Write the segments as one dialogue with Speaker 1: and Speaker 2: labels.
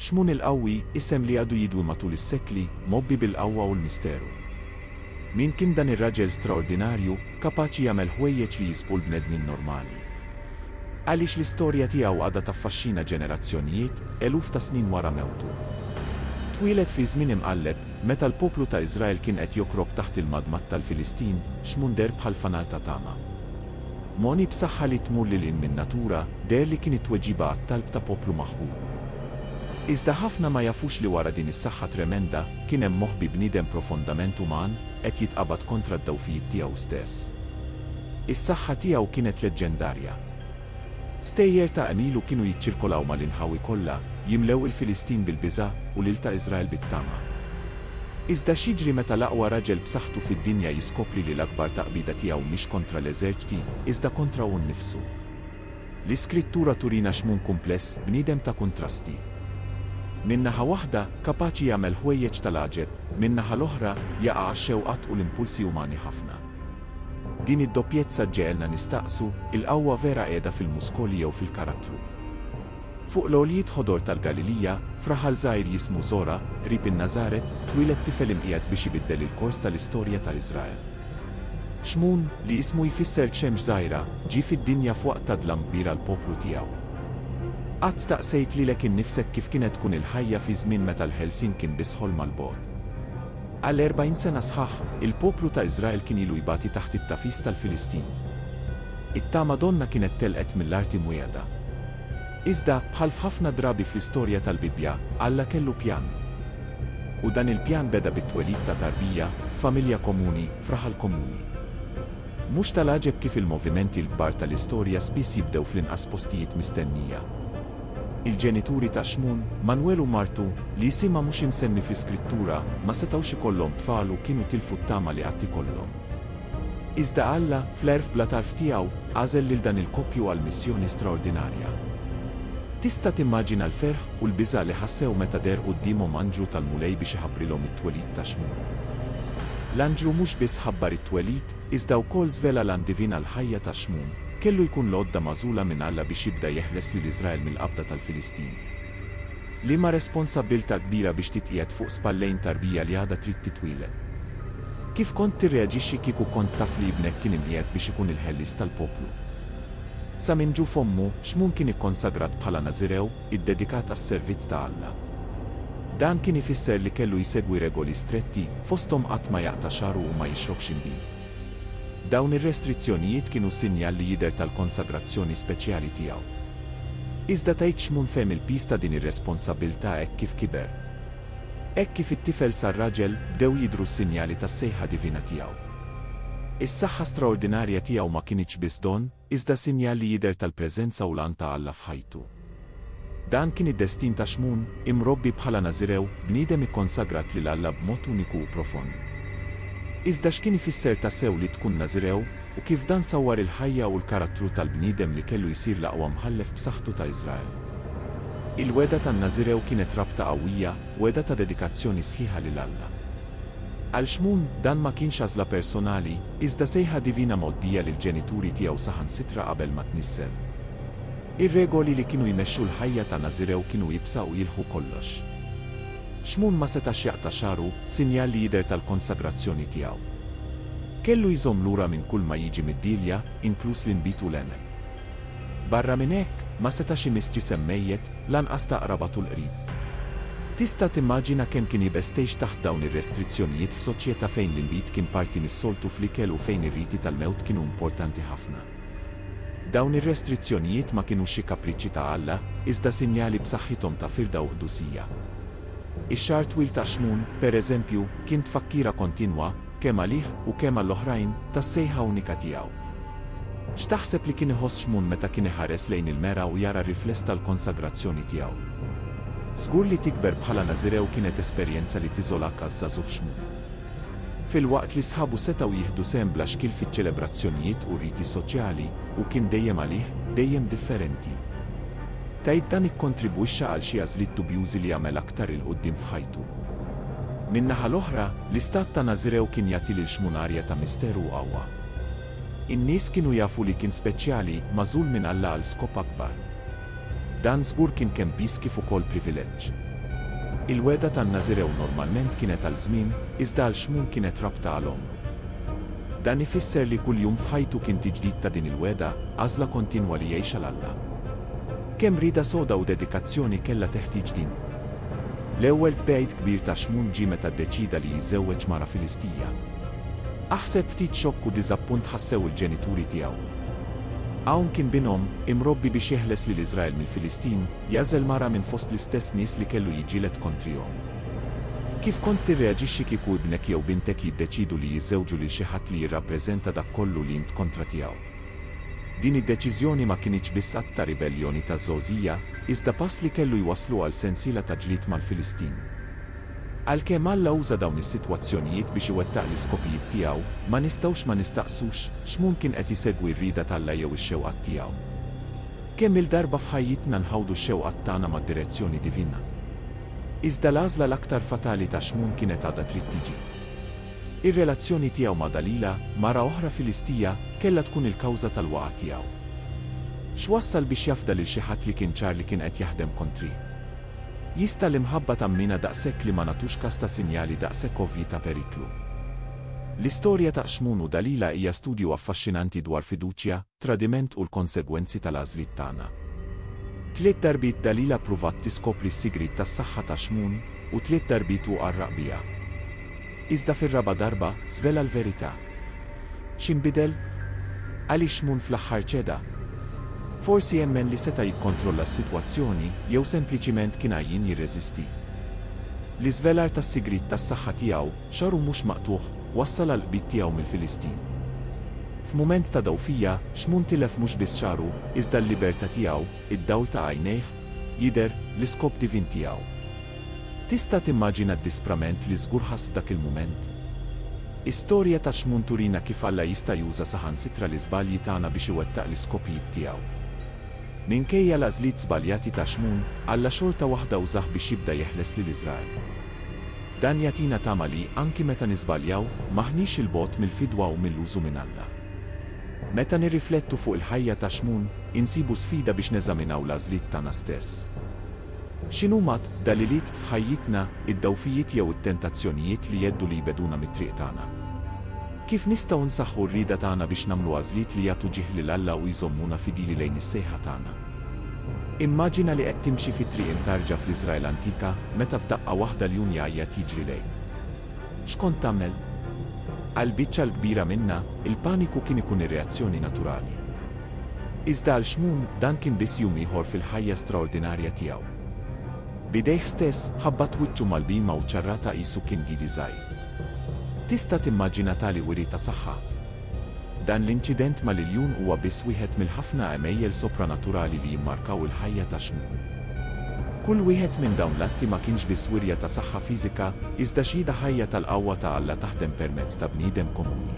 Speaker 1: Xmun il-Qawwi, isem li għadu jidwi matul is-sekli, mgħobbi bil-qawwa u l-misteru. Min kien dan ir-raġel straordinarju, kapaċi jagħmel ħwejjeġ li jisbqu l-bnedmin normali? Għaliex l-istorja tiegħu għadha taffaxxina ġenerazzjonijiet, eluf ta' snin wara mewtu? Twieled fi żmien imqalleb, meta l-poplu ta' Iżrael kien qed jokrok taħt il-madmad tal-Filistin, Xmun deher bħal fanal ta' tama. Moni b'saħħa li tmur lil hinn min-natura deher li kien it-tweġiba għat-talb ta' poplu maħqur. Iżda ħafna ma jafux li wara din is-saħħa tremenda, kien hemm moħbi bniedem profondament uman, qed jitqabad kontra d-dgħufijiet tiegħu stess. Is-saħħa tiegħu kienet leġġendarja. Stejjer ta' qlilu kienu jiċċirkolaw mal-inħawi kollha, jimlew il-Filistin bil-biża' u lil ta' Iżrael bit-tama. Iżda x'jiġri meta l-aqwa raġel b'saħħtu fid-dinja jiskopri li l-akbar taqbida tiegħu mhix kontra l-eżerċti, iżda kontra hu nnifsu? L-Iskrittura turina xmun kumpless, bniedem ta' kuntrasti. Minn naħa waħda, kapaċi jagħmel ħwejjeġ tal-għaġeb, min-naħa l-oħra, jaqa' għax-xewqat u l-impulsi umani ħafna. Din id-doppjezza ġġegħelna nistaqsu, il-qawwa vera qiegħda fil-muskoli jew fil-karattru? Fuq l-għoljiet ħodor tal-Galilija, f'raħal żgħir jismu Żora, qrib in-Nażaret, twieled tifel imqiegħed biex ibiddel il-kors tal-istorja ta' Iżrael. Xmun, li ismu jfisser xemx żgħira, ġie fid-dinja f'waqt ta' dlam kbir għall-poplu tiegħu. Qatt staqsejt lilek innifsek kif kienet tkun il-ħajja fi żmien meta l-ħelsien kien biss ħolma 'l bogħod? Għal erbgħin sena sħaħ, il-poplu ta' Iżrael kien ilu jbati taħt it-tagħfis tal-Filistin. It-tama donnha kienet telqet mill-art imwiegħda. Iżda, bħal f'ħafna drabi fl-istorja tal-Bibbja, Alla kellu pjan. U dan il-pjan beda bit-twelid ta' tarbija, f'familja komuni, f'raħal komuni. Mhux tal-għaġeb kif il-movimenti l-kbar tal-istorja spiss jibdew fl-inqas postijiet mistennija. Il-ġenituri ta' Xmun, Manwel u martu, li isimha mhux imsemmi fl-Iskrittura, ma setgħux ikollhom tfal u kienu tilfu t-tama li qatt ikollhom. Iżda Alla, fl-għerf bla tarf tiegħu, għażel lil dan il-koppju għal missjoni straordinarja. Tista' timmaġina l-ferħ u l-biża' li ħassew meta deher quddiemhom anġlu tal-Mulej biex iħabbrilhom it-twelid ta' Xmun? L-anġlu mhux biss ħabbar it-twelid, iżda wkoll żvela l-għan divin għall-ħajja ta' Xmun, kellu jkun l-għodda magħżula minn Alla biex jibda jeħles lil Iżrael mill-qabda tal-Filistin. Liema responsabbiltà kbira biex titqiegħed fuq spallejn tarbija li għadha trid titwieled! Kif kont tirreaġixxi kieku kont taf li ibnek kien imqiegħed biex ikun il-ħellies tal-poplu? Sa minn ġuf ommu, Xmun kien ikkonsagrat bħala Nażirew, iddedikat għas-servizz ta' Alla. Dan kien ifisser li kellu jsegwi regoli stretti, fosthom qatt ma jaqta' xagħru u ma jixrobx inbid. Dawn ir-restrizzjonijiet kienu sinjal li jidher tal-konsagrazzjoni speċjali tiegħu. Iżda tgħid Xmun fehem il-piż ta' din ir-responsabbiltà hekk kif kiber. Hekk kif it-tifel sar raġel, bdew jidhru s-sinjali tas-sejħa divina tiegħu. Is-saħħa straordinarja tiegħu ma kinitx biss don, iżda sinjal li jidher tal-preżenza u l-għan ta' Alla f'ħajtu. Dan kien id-destin ta' Xmun, imrobbi bħala Nażirew, bniedem ikkonsagrat lil Alla b'mod uniku u profond. Iżda x'kien ifisser tassew li tkun Nażirew, u kif dan sawwar il-ħajja u l-karattru tal-bniedem li kellu jsir l-aqwa mħallef b'saħħtu ta' Iżrael? Il-wegħda tan-Nażirew kienet rabta qawwija, wegħda ta' dedikazzjoni sħiħa lil Alla. Għal Xmun, dan ma kienx għażla personali, iżda sejħa divina mgħoddija lill-ġenituri tiegħu saħansitra qabel ma tnissel. Ir-regoli li kienu jmexxu l-ħajja ta' Nażirew kienu iebsa u jilħqu kollox. Xmun ma setax jaqta' xagħru, sinjal li jidher tal-konsagrazzjoni tiegħu. Kellu jżomm lura minn kull ma jiġi mid-dielja, inkluż l-inbid u l-għemel. Barra minn hekk, ma setax imiss ġisem mejjet, lanqas ta' qraba tul qrib. Tista' timmaġina kemm kien iebes tgħix taħt dawn ir-restrizzjonijiet f'soċjetà fejn l-inbid kien parti mis-soltu fl-ikel u fejn ir-riti tal-mewt kienu importanti ħafna? Dawn ir-restrizzjonijiet ma kinux xi kapriċċi ta' Alla, iżda sinjali b'saħħithom ta' firda u qdusija. Ix-xagħar twil ta' Xmun, per eżempju, kien tfakkira kontinwa, kemm għalih u kemm għall-oħrajn, tas-sejħa unika tiegħu. X'taħseb li kien iħoss Xmun meta kien iħares lejn il-mera u jara r-rifless tal-konsagrazzjoni tiegħu? Żgur li tikber bħala Nażirew kienet esperjenza li tiżolak għaż-żagħżugħ Xmun. Filwaqt li sħabu setgħu jieħdu sehem bla xkiel fiċ-ċelebrazzjonijiet u r-riti soċjali, hu kien dejjem għalih, dejjem differenti. Tgħid dan ikkontribwixxa għal xi għażliet dubjużi li għamel aktar 'il quddiem f'ħajtu. Min-naħa l-oħra, l-istat ta' Nażirew kien jagħti lil Xmun arja ta' misteru u qawwa. In-nies kienu jafu li kien speċjali, magħżul minn Alla għal skop akbar. Dan żgur kien kemm piż kif ukoll privileġġ. Il-wegħda tan-Nażirew normalment kienet għal żmien, iżda għal Xmun kienet rabta għal għomru. Dan ifisser li kull jum f'ħajtu kien tiġdid ta' din il-wegħda, għażla kontinwa li jgħix għal Alla. Kemm rieda soda u dedikazzjoni kellha teħtieġ din! L-ewwel tbegħid kbir ta' Xmun ġie meta ddeċieda li jiżżewweġ mara Filistija. Aħseb ftit xokk u diżappunt ħassew il-ġenituri tiegħu. Hawn kien bin omm, imrobbi biex jeħles lil Iżrael mill-Filistin, jagħżel mara minn fost l-istess nies li kellu jiġġieled kontrihom. Kif kont tirreaġixxi kieku ibnek jew bintek jiddeċiedu li jiżżewġu lil xi ħadd li jirrappreżenta dak kollu li int kontra tiegħu? Din id-deċiżjoni ma kinitx biss att ta' ribelljoni ta' Żgħożija, iżda pass li kellu jwasslu għal sensiela ta' ġlied mal-Filistin. Għalkemm Alla uża dawn is-sitwazzjonijiet biex iwettaq l-iskopijiet tiegħu, ma nistgħux ma nistaqsux, X'mhun kien qed isegwi r-rieda t'Alla jew ix-xewqat tiegħu? Kemm-il darba f'ħajjitna nħawdu x-xewqat tagħna mad-direzzjoni divina? Iżda l-għażla l-aktar fatali ta' Xmun kienet għadha trid tiġi. Ir-relazzjoni tiegħu ma' Dalila, mara oħra Filistija, kellha tkun il-kawża tal-waqgħa tiegħu. X'wassal biex jafda lil xi ħadd li kien ċar li kien qed jaħdem kontrih? Jista' l-imħabba tammina daqshekk li ma nagħtux kas ta' sinjali daqshekk ovvji ta' periklu? L-istorja ta' Qxmun u Dalila hija studju affaxxinanti dwar fiduċja, tradiment u l-konsegwenzi tal-għażliet tagħna. Tliet darbiet Dalila ppruvat tiskopri s-sigriet tas-saħħa ta' Qxmun, u tliet darbiet hu qarraq biha. Iżda fir-raba' darba żvela l-verità. X'inbidel? Għaliex Moon fl-aħħar ċeda? Forsi jemmen li seta' jikkontrolla s-sitwazzjoni jew sempliċiment kien għajjien jirreżisti? L-iżvelar tas-sigriet tas-saħħa tiegħu, xagħru mhux maqtugħ, wassal għall-qbid tiegħu mill-Filistin. F'mument ta' dgħufija, x'Moon tilef mhux biss xagħru, iżda l-libertà tiegħu. id-dawl ta' għajnejh, jidher l-iskop divin tiegħu. Tista' timmaġina d-disprament li żgur ħass f'dak il-mument? Is-storja ta' Xmun turina kif Alla jista' juża saħansitra l-iżbalji tagħna biex iwettaq l-iskopijiet tiegħu. Minkejja l-għażliet żbaljati ta' Xmun, Alla xorta waħda użah biex jibda jeħles lil Iżrael. Dan jagħtina tama li, anki meta niżbaljaw, m'aħniex 'il bogħod mill-fidwa u mill-użu minn Alla. Meta nirriflettu fuq il-ħajja ta' Xmun, insibu sfida biex neżaminaw l-għażliet tagħna stess. X'inhuma d-dgħaliliet f'ħajjitna, id-dgħufijiet jew it-tentazzjonijiet li jgħeddu li jbegħduna mit-triq tagħna? Kif nistgħu nsaħħu r-rieda tagħna biex nagħmlu għażliet li jagħtu ġieħ lil Alla u jżommuna fidili lejn is-sejħa tagħna? Immaġina li qed timxi fi triq imtarrġa fl-Iżrael antika, meta f'daqqa waħda ljun jgħajjat jiġri lejk. X'kont tagħmel? Għall-biċċa l-kbira minna, il-paniku kien ikun ir-reazzjoni naturali. Iżda għal Xmun, dan kien biss jum ieħor fil-ħajja straordinarja tiegħu. B'idejh stess, ħabbat wiċċu mal-bhima u ċarratha qisu kien gidi żgħir. Tista' timmaġina tali wiri ta' saħħa? Dan l-inċident mal-iljun huwa biss wieħed mill-ħafna għemejjel sopranaturali li jimmarkaw il-ħajja ta' Xmun. Kull wieħed minn dawn l-atti ma kienx biss wirja ta' saħħa fiżika, iżda xhieda ħajja tal-qawwa ta' Alla taħdem permezz ta' bniedem komuni.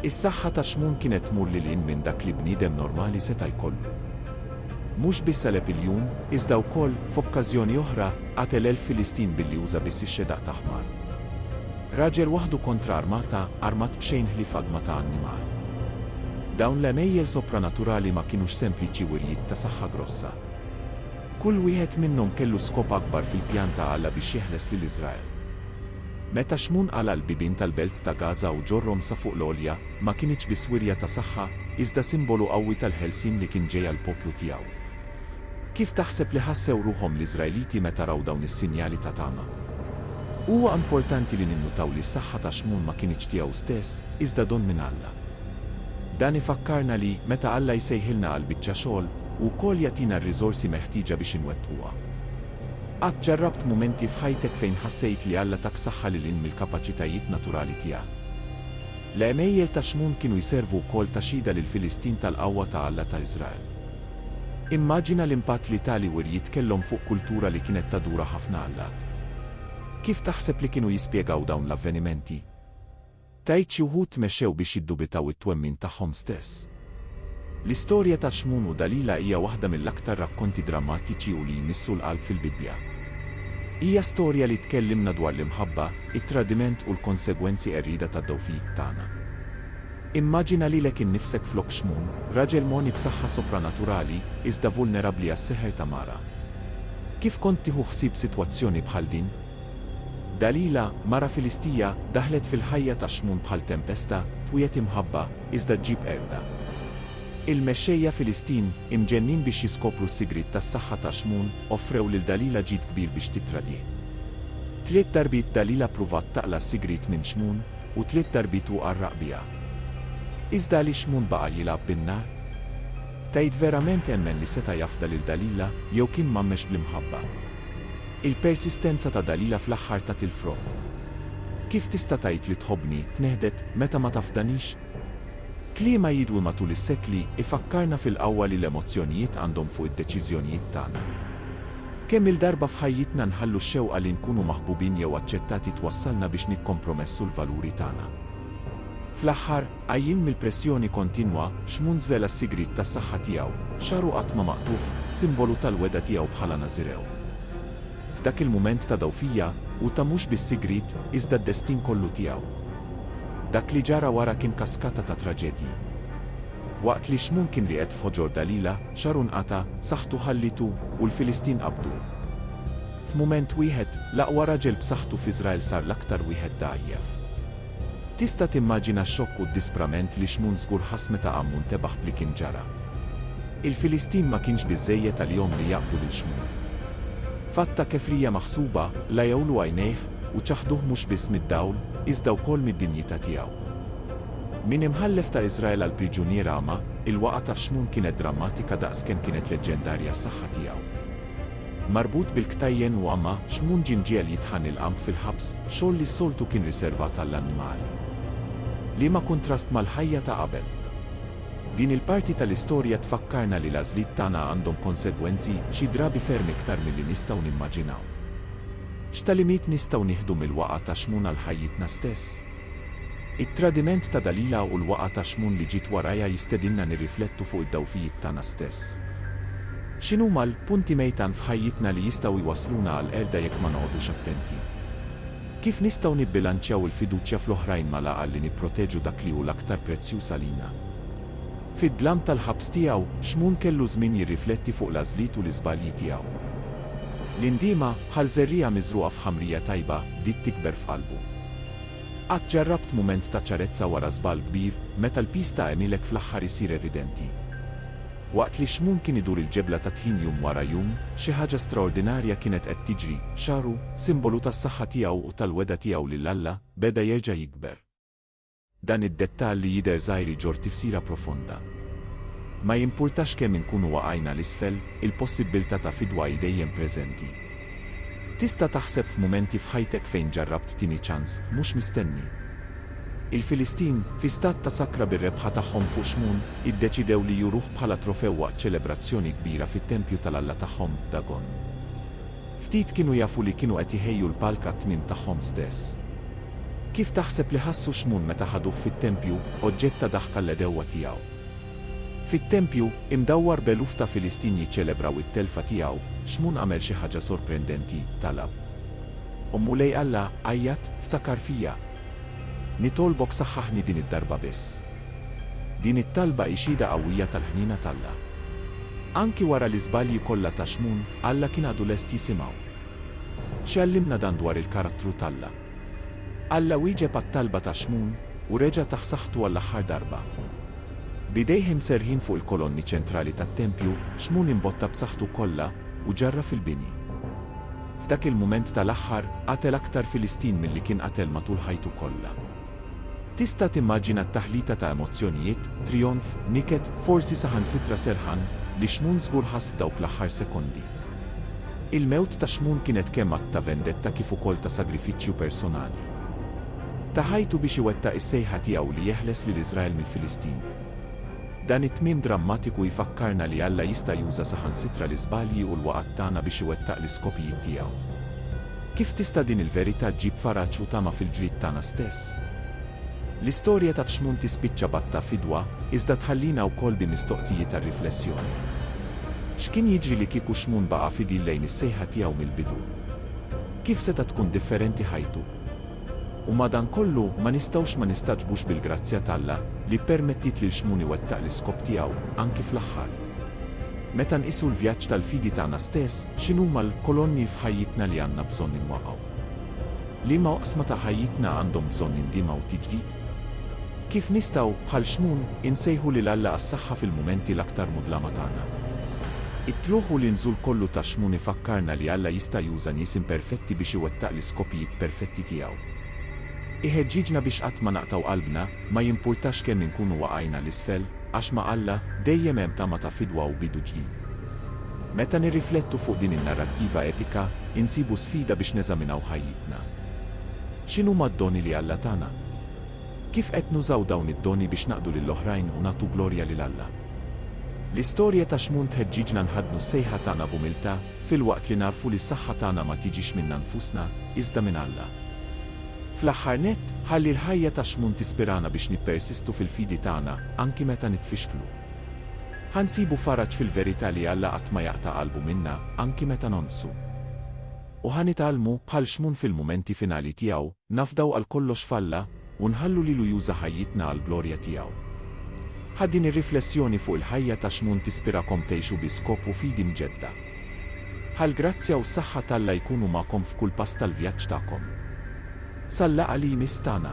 Speaker 1: Is-saħħa ta' Xmun kienet tmur lil hinn minn dak li bniedem normali seta' jkollu. Mhux biss għeleb iljun, iżda wkoll, f'okkażjoni oħra, qatel elf Filistin billi uża biss ix-xedaq ta' ħmar. Raġel waħdu kontra arma ta' armat b'xejn ħlief adma ta' annimal. Dawn l-għemejjel sopranaturali ma kinux sempliċi wirjiet ta' saħħa grossa. Kull wieħed minnhom kellu skop akbar fil-pjan ta' Alla biex jeħles lil Iżrael. Meta Xmun qala' l-bibien tal-belt ta' Gaża u ġorrhom sa fuq l-għolja, ma kinitx biss wirja ta' saħħa, iżda simbolu qawwi tal-ħelsien li kien ġej għall-poplu tiegħu. Kif taħseb li ħassew ruħhom l-Iżraeliti meta raw dawn is-sinjali ta' tama? Huwa importanti li ninnutaw li s-saħħa ta' Xmun ma kinitx tiegħu stess, iżda don minn Alla. Dan ifakkarna li, meta Alla jsejħilna għal biċċa xogħol, hu wkoll jagħtina r-riżorsi meħtieġa biex inwettquha. Qatt ġarrabt mumenti f'ħajtek fejn ħassejt li Alla tak saħħa lil hinn mill-kapaċitajiet naturali tiegħek? L-għemejjel ta' Xmun kienu jservu wkoll ta' xhieda lill-Filistin tal-qawwa ta' Alla ta' Iżrael. Immaġina l-impatt li tali wirjiet kellhom fuq kultura li kienet tadura ħafna allat. Kif taħseb li kienu jispjegaw dawn l-avvenimenti? Tgħid xi wħud tmexxew biex jiddubitaw it-twemmin tagħhom stess? L-istorja ta' Xmun u Dalila hija waħda mill-aktar rakkonti drammatiċi u li jmissu l-qalb fil-Bibbja. Hija storja li tkellimna dwar l-imħabba, it-tradiment u l-konsegwenzi qerrieda tad-dgħufijiet tagħna. Immaġina lilek innifsek flok xmun, raġel mogħni b'saħħa sopranaturali, iżda vulnerabbli għas-seħer ta' mara. Kif kont tieħu ħsieb sitwazzjoni bħal din? Dalila, mara Filistija, daħlet fil-ħajja ta' xmun bħal tempesta, twiegħed imħabba, iżda ġġib qerda. Il-mexxejja Filistin, imġennin biex jiskopru s-sigriet tas-saħħa ta' xmun, offrew lil Dalila ġid kbir biex tittradih. Tliet darbiet Dalila ppruvat taqla' s-sigriet minn xmun, u tliet darbiet hu qarraq biha. Iżda għaliex Mun baqa' jilgħab bin-nar? Tgħid verament temmen li seta' jafda lil Dalila jew kien mgħammex bl-imħabba? Il-persistenza ta' Dalila fl-aħħar tat il-frott. Kif tista' tgħid li tħobbni, tnehdet, meta ma tafdanix? Kliema jidwi matul is-sekli ifakkarna fil-qawwa li l-emozzjonijiet għandhom fuq id-deċiżjonijiet tagħna. Kemm-il darba f'ħajjitna nħallu x-xewqa li nkunu maħbubin jew aċċettati twassalna biex nikkompromessu l-valuri tagħna. Fl-aħħar, għajjien mill-pressjoni kontinwa, Xmun żvela s-sigriet tas-saħħa tiegħu, xagħru qatt ma maqtugħ, simbolu tal-wegħda tiegħu bħala Nażirew. f'dak il-mument ta' dgħufija, u ta mhux biss sigriet, iżda d-destin kollu tiegħu. Dak li ġara wara kien kaskata ta' traġedji. Waqt li Xmun kien rieqed f'ħoġor Dalila, xagħru nqata', saħħtu ħallitu, u l-Filistin qabduh. F'mument wieħed, l-aqwa raġel b'saħħtu f'Iżrael sar l-aktar wieħed dgħajjef. Tista' timmaġina x-xokk u d-disprament li Xmun żgur ħass meta Għammun tebaħ b'li kien ġara. Il-Filistin ma kienx biżżejjed għalihom li jaqbdu lil Xmun. F'att ta' kefrija maħsuba, lajgħulu għajnejh u ċaħħduh mhux biss mid-dawl, iżda wkoll mid-dinjità tiegħu. Minn imħallef ta' Iżrael għal priġunier agħma, il-waqgħa ta' Xmun kienet drammatika daqs kemm kienet leġġendarja s-saħħa tiegħu. Marbut bil-ktajjen u għama, Xmun Ġinġiel jitħan il-qamħ fil-ħabs, xogħol li s-soltu kien riservat għall-annimali. Liema kuntrast mal-ħajja ta' qabel! Din il-parti tal-istorja tfakkarna li l-għażliet tagħna għandhom konsegwenzi, xi drabi ferm iktar milli nistgħu nimmaġinaw. X'tagħlimiet nistgħu nieħdu mill-waqgħa ta' Xmun għal ħajjitna stess? It-tradiment ta' Dalila u l-waqgħa ta' Xmun li ġiet warajha jistedinna nirriflettu fuq id-dgħufijiet tagħna stess. X'inhuma l-punti mejtan f'ħajjitna li jistgħu jwassluna għall-qerda jekk ma noqogħdux attenti? Kif nistgħu nibbilanċjaw il-fiduċja fl-oħrajn mal-għaqal li nipproteġu dak li hu l-aktar prezzjuż għalina? Fid-dlam tal-ħabs tiegħu, Xmun kellu żmien jirrifletti fuq l-għażliet u l-iżbalji tiegħu. L-indiema, bħal żerriegħa miżrugħa f'ħamrija tajba, bdiet tikber f'qalbu. Qatt ġarrabt mument ta' ċarezza wara żball kbir, meta l-piż ta' għemilek fl-aħħar isir evidenti? Waqt li x-xmun kien idur il-ġebla tat-tħin jum wara jum, xi ħaġa straordinarja kienet qed tiġri, xagħru, simbolu tas-saħħa tiegħu u tal-wegħda tiegħu lil Alla, beda jerġa' jikber. Dan id-dettall li jidher żgħir iġorr tifsira profonda. Ma jimpurtax kemm inkunu waqajna 'l isfel, il-possibbiltà ta' fidwa hi dejjem preżenti. Tista' taħseb f'mumenti f'ħajtek fejn ġarrabt tieni ċans, mhux mistenni. Il-Filistin, fi stat ta' sakra bir-rebħa tagħhom fuq Xmun, iddeċidew li juruh bħala trofew waqt ċelebrazzjoni kbira fit-tempju tal-alla tagħhom, Dagon. Ftit kienu jafu li kienu qed jħejju l-palk għat-tmiem tagħhom stess. Kif taħseb li ħassu Xmun meta ħaduh fit-tempju, oġġett ta' daħka l-għedewwa tiegħu? Fit-tempju, imdawwar b'eluf ta' Filistin jiċċelebraw it-telfa tiegħu, Xmun għamel xi ħaġa sorprendenti, talab. O Mulej Alla, għajjat, ftakar fija. Nitolbok saħħaħni din id-darba biss. Din it-talba hi xhieda qawwija tal-ħniena t'Alla. Anki wara l-iżbalji kollha ta' Xmun, Alla kien għadu lest jisimgħu. X'jgħallimna dan dwar il-karattru t'Alla? Alla wieġeb għat-talba ta' Xmun, u reġa' tah saħħtu għall-aħħar darba. B'idejh imserrħin fuq il-kolonni ċentrali tat-tempju, Xmun imbotta b'saħħtu kollha, u ġarraf il-bini. F'dak il-mument tal-aħħar, qatel aktar Filistin milli kien qatel matul ħajtu kollha. Tista' timmaġina t-taħlita ta' emozzjonijiet, trijonf, niket, forsi saħansitra serħan, li Xmun żgur ħass f'dawk l-aħħar sekondi. Il-mewt ta' Xmun kienet kemm att ta' vendetta kif ukoll ta' sagrifiċċju personali. Ta ħajtu biex iwettaq is-sejħa tiegħu li jeħles lil Iżrael mill-Filistin. Dan it-tmiem drammatiku jfakkarna li Alla jista' juża saħansitra l-iżbalji u l-waqgħat tagħna biex iwettaq l-iskopijiet tiegħu. Kif tista' din il-verità ġġib faraġ u tama fil-ġlied tagħna stess? L-istorja ta' Xmun tispiċċa b'għatta fidwa, iżda tħallina wkoll bi mistoqsijiet għar-riflessjoni. X'kien jiġri li kieku Xmun baqa' fidil lejn is-sejħa tiegħu mill-bidu? Kif seta' tkun differenti ħajtu? U madankollu, ma nistgħux ma nistagħġbux bil-grazzja t'Alla, li ppermettiet lil Xmun iwettaq l-iskop tiegħu, anki fl-aħħar. Meta nqisu l-vjaġġ tal-fidi tagħna stess, x'inhuma l-kolonni f'ħajjitna li għandna bżonn inwaqqgħu? Liema oqsma ta' ħajjitna għandhom bżonn indiema u tiġdid? Kif nistgħu, bħal Xmun, insejħu lil Alla għas-saħħa fil-mumenti l-aktar mudlama tagħna? It-tlugħ u l-inżul kollu ta' Xmun ifakkarna li Alla jista' juża nies imperfetti biex iwettaq l-iskopijiet perfetti tiegħu. Iħeġġiġna biex qatt ma naqtgħu qalbna, ma jimpurtax kemm inkunu waqajna 'l isfel. Għax ma' Alla, dejjem hemm tama ta' fidwa u bidu ġdid. Meta nirriflettu fuq din in-narrattiva epika, insibu sfida biex neżaminaw ħajjitna. X'inhuma d-doni li Alla tana? Kif qed nużaw dawn id-doni biex naqdu lil oħrajn u nagħtu glorja lil Alla? L-istorja ta' Xmun tħeġġiġna nħaddnu s-sejħa tagħna b'umiltà, filwaqt li nagħrfu li s-saħħa tagħna ma tiġix minna nfusna, iżda minn Alla. Fl-aħħar nett, ħalli l-ħajja ta' Xmun tispirana biex nippersistu fil-fidi tagħna, anki meta nitfixklu. Ħa nsibu faraġ fil-verità li Alla qatt ma jaqta' qalbu minna, anki meta nonqsu. U ħa nitgħallmu, bħal Xmun fil-mumenti finali tiegħu, nafdaw għal kollox f'Alla, u nħallu lilu juża ħajjitna għall-glorja tiegħu. Ħa din ir-riflessjoni fuq il-ħajja ta' Xmun tispirakom tgħixu bi skop u fidi mġedda. Ħa l-grazzja u s-saħħa t'Alla jkunu magħkom f'kull pass tal-vjaġġ tagħkom. Sal-laqgħa li jmiss tagħna.